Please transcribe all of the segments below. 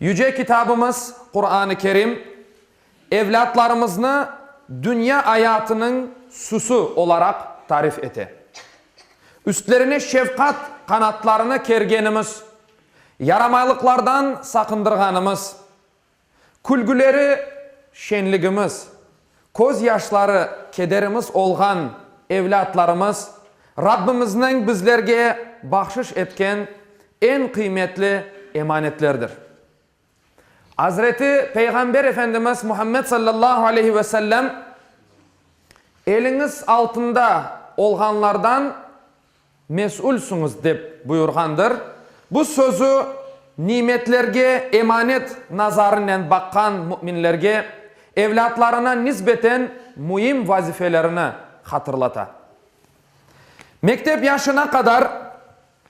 Yüce Kitabımız, Quran-ı Kerim, evlâtlarımıznı dünya ayatınıñ süsü olaraq tarif ete. Üstlerine şefqat qanatlarını kergenimiz, yaramaylıqlardan saqındırğanımız, külgüleri şenligimiz, Köz yaşları kederimiz olğan evlâtlarımız, Rabbimizniñ bizlerge bahşış etken eñ qıymetli emanetlerdir. Azreti Peyğamber Efendimiz Muhammed sallallahu aleyhi ve sellem, Eliñiz altında olğanlardan Mesülsiñiz dep buyurğandır. Bu sözü nimetlerge emanet nazarınen baqqan müminlerge evlâtlarına nisbeten müim vazifelerini hatırlata. Mektep yaşına qadar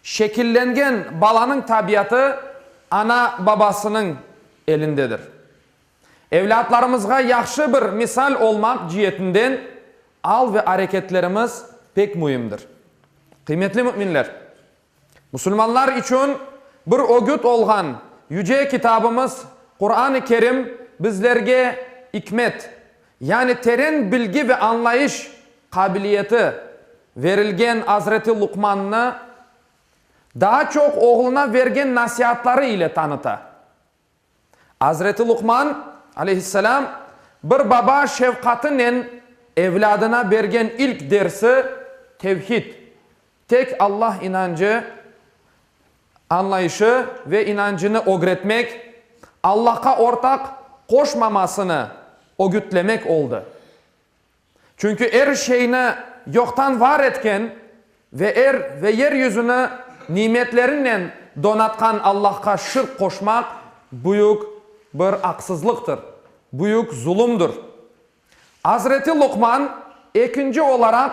şekillengen balanıñ tabiatı ana-babasınıñ elindedir. Evlâtlarımızğa yahşı bir misal olmaq cietinden al ve areketlerimiz pek müimdir. Qıymetli müminler! Musulmanlar içün bir ögüt olğan Yüce Kitabımız Quran-ı Kerim bizlerge ikmet, yani teren bilgi ve añlayış qabiliyeti verilgen Azreti Luqmannı daa çoq oğluna bergen nasiatları ile tanıta. Azreti Luqman, aleyhisselâm, bir baba şefqatınen evlâdına bergen ilk dersi, tevhid, tek Allah inancı, añlayışı ve inancını ögretmek, Allahqa ortaq qoşmamasını ögütlemek oldı. Çünki er şeyni yoqtan var etken ve er ve yer yüzüni nimetlerinnen donatqan Allahqa şirk qoşmaq büyük bir aqsızlıqtır, büyük zulumdır. Azreti Luqman ekinci olaraq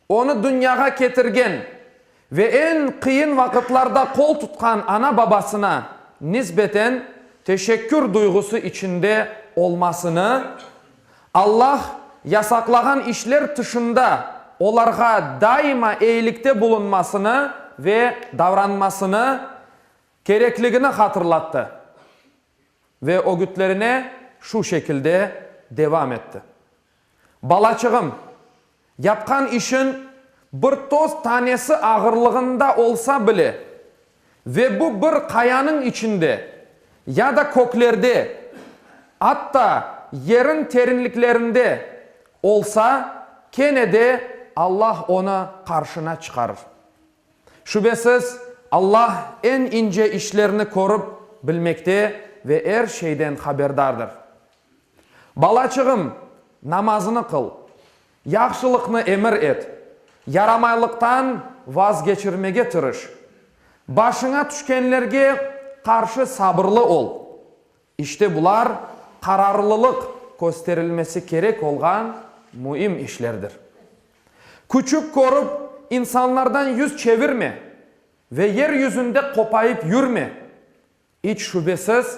onı dünyağa ketirgen ve eñ qıyın vaqıtlarda qol tutqan ana-babasına nisbeten teşekkür duyğusı içinde olmasını, Allah yasaqlağan işler tışında olarğa daima eyilikte bulunmasını ve davranmasını kerekligini hatırlattı ve ögütlerine şu şekilde devam etti. Balaçığım, yapqan işiñ bir toz tanesi ağırlığında olsa bile ve bu bir qayanıñ içinde ya da köklerde, atta yeriñ terinliklerinde olsa, kene de Allah onı qarşına çıqarır. Şübesiz, Allah eñ ince işlerni körip bilmekte ve er şeyden haberdardır. Balaçığım, namazını qıl, yahşılıqnı emir et, yaramaylıqtan vazgeçirmege tırış, başıña tüşkenlerge qarşı sabırlı ol. İşte bular qararlılıq kösterilmesi kerek olğan müim işlerdir. Küçük körip, insanlardan yüz çevirme ve yer yüzünde qopayıp yürme, İç şübesiz,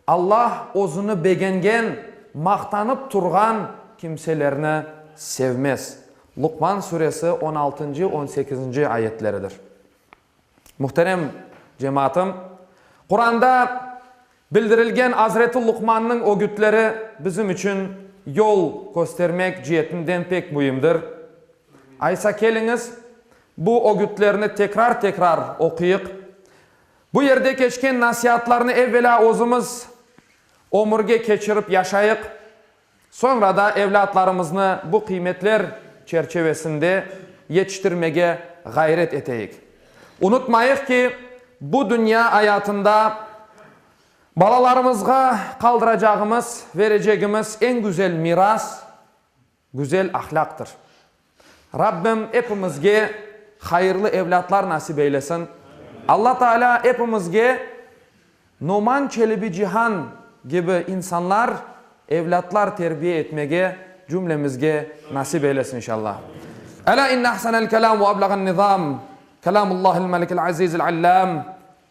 Alla özüni begengen, maqtanıp turğan kimselerni sevmez. Luqman Suresi on altıncı, on sekizinci ayetleridir. Muhterem cemaatım, Quranda bildirilgen azreti Luqmannıñ ögütleri bizim içün yol köstermek cietinden pek müimdir. Aysa keliñiz, bu ögütlerni tekrar-tekrar oquyıq. Bu yerde keçken nasiatlarnı evvelâ özümiz ömürge keçirip yaşayıq, soñra da evlâtlarımıznı bu qıymetler çerçevesinde yetiştirmege ğayret eteyik. Unutmayıq ki, bu dünya ayatında balalarımızğa qaldıracağımız, verecegimiz eñ güzel miras, Güzel ahlâqtır. Rabbim epimizge hayırlı evlâtlar nasip eylesin. Alla Taalâ epimizge Noman Çelebicihan kibi insanlar, evlâtlar terbiye etmege cümlemizge nasip eylesin inşalla. Elâ inne ahsenel kelâm ve ablâğen nizâm, kelâmullâhil melikil azizil allâm.